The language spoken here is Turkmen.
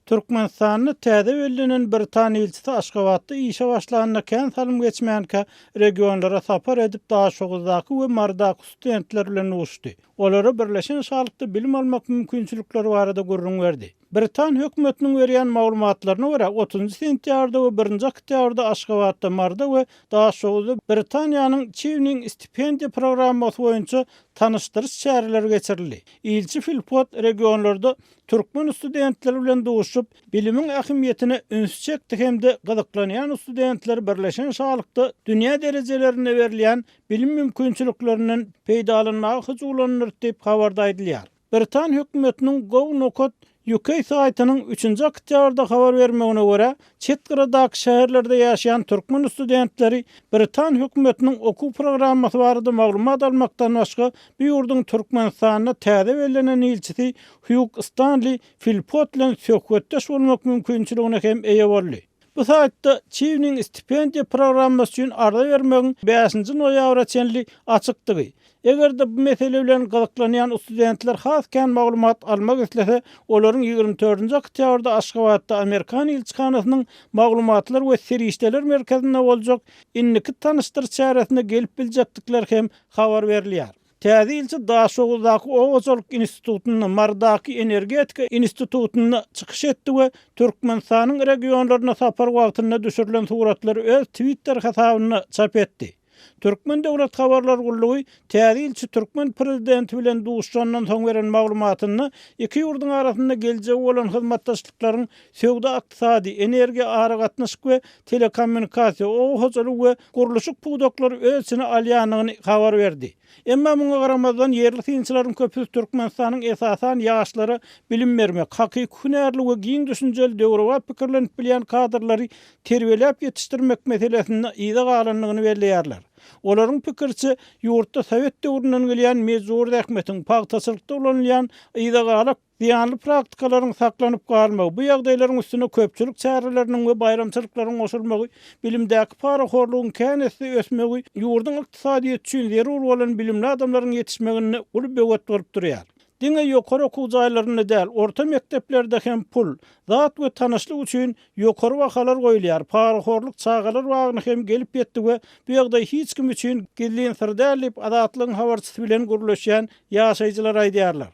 Türkmenistanda täze bellenen britan ilçisi Aşgabatda işe başlanda kän salym geçmänkä regionlara sapar edip Daşoguzdaky we Marydaky studentler bilen duşdy. Olara Birleşen Şalykda bilim almak mümkinçilikleri barada gürrüň berdi. Britan hökümetiniň berýän maglumatlaryna görä, otuzynjy sentýabrda we birinji oktýabrda Aşgabatda, Maryda we Daşoguzda Britaniýanyň Çiwning stipendiýa programmasy boýunça tanyşdyryş çäreleri geçirildi. Ilçi Filpot regionlarda türkmen studentleri bilen duşup, bilimiň ähmiýetine ünsi çekdi hem-de gyzyklanýan studentler birleşen şalykda dünýä derejelerinde berilýän bilim mümkinçiliklerinden peýdalanmaga hyjuwlandyr diýip habarda aýdylýar. Britan hökümetiniň Go Nokat UK saýtynyň üçünji oktýabrda habar bermegine görä, Çet gyradaky şäherlerde ýaşaýan türkmen studentleri britan hökümetiniň okuw programmasy barada maglumat almakdan başga, bu ýurduň Türkmenistanda täze bellenen ilçisi Hýug Stanli Filpot bilen söhbetdeş bolmak mümkinçiligine hem eýe boldy. Bu saýtda Çiwniň stipendiýa programmasy üçin arza bermegiň bäşinji noýabra çenli açykdygy, Eger-de bu mesele bilen gyzyklanýan studentler has kän maglumat almak islese, olaryň ýigrimi dördünji oktýabrda Aşgabatda Amerikan ilçihanasynyň Maglumatlar we serişdeler merkezinde boljak Indiki tanyşdyr çäresine gelip biljekdikleri hem habar berilýär. Täze ilçi Daşoguzdaky Oba hojalyk institutynda, Marydaky Energetika institutynda çykyş etdi we Türkmenistanyň regionlaryna sapar wagtynda düşürilen suratlary öz Twitter hasabynda çap etdi. Türkmen döwlet habarlar gullugy täze ilçi türkmen prezidenti bilen duşandan soň beren maglumatynda iki ýurduň arasynda geljegi bolan hyzmatdaşlyklaryň söwda-ykdysady, energiýa-aragatnaşyk we telekommunikasiýa, oba hojalygy we gurluşyk pudaklary öz içine alýandygyny habar berdi. Emma muňa garamazdan, ýerli synçylaryň köpüsi Türkmenistanyň esasan ýaşlara bilim bermek, hakyky hünärli we giň düşünjeli döwrebap pikirlenip bilýän kadrlary terbiýeläp ýetişdirmek meselesinde yza galandygyny belleýärler. Olaryň pikiriçe, ýurtda sowet döwründen gelýän mejbury zähmetiň, pagtaçylykda ulanylýan yza gala zyýanly praktikalaryň saklanyp galmagy, bu ýagdaýlaryň üstüne köpçülik çäreleriniň we baýramçylyklaryň goşulmagy, bilimdäki parahorlugyň kän esse ösmegi ýurduň ykdysadyýeti üçin zerur bolan bilimli adamlaryň ýetişmeginde uly böwet bolup durýar. Diňe ýokary okuw jaýlarynda däl, orta mekdeplerde hem pul, zat we tanyşlyk üçin ýokary bahalar goýulýar. Parahorluk çagalar bagyna hem gelip ýetdi we bu ýagdaý hiç kim üçin gizlin syr däl diýip, Azatlygyň habarçysy bilen gürleşýän ýaşaýjylar aýdýarlar.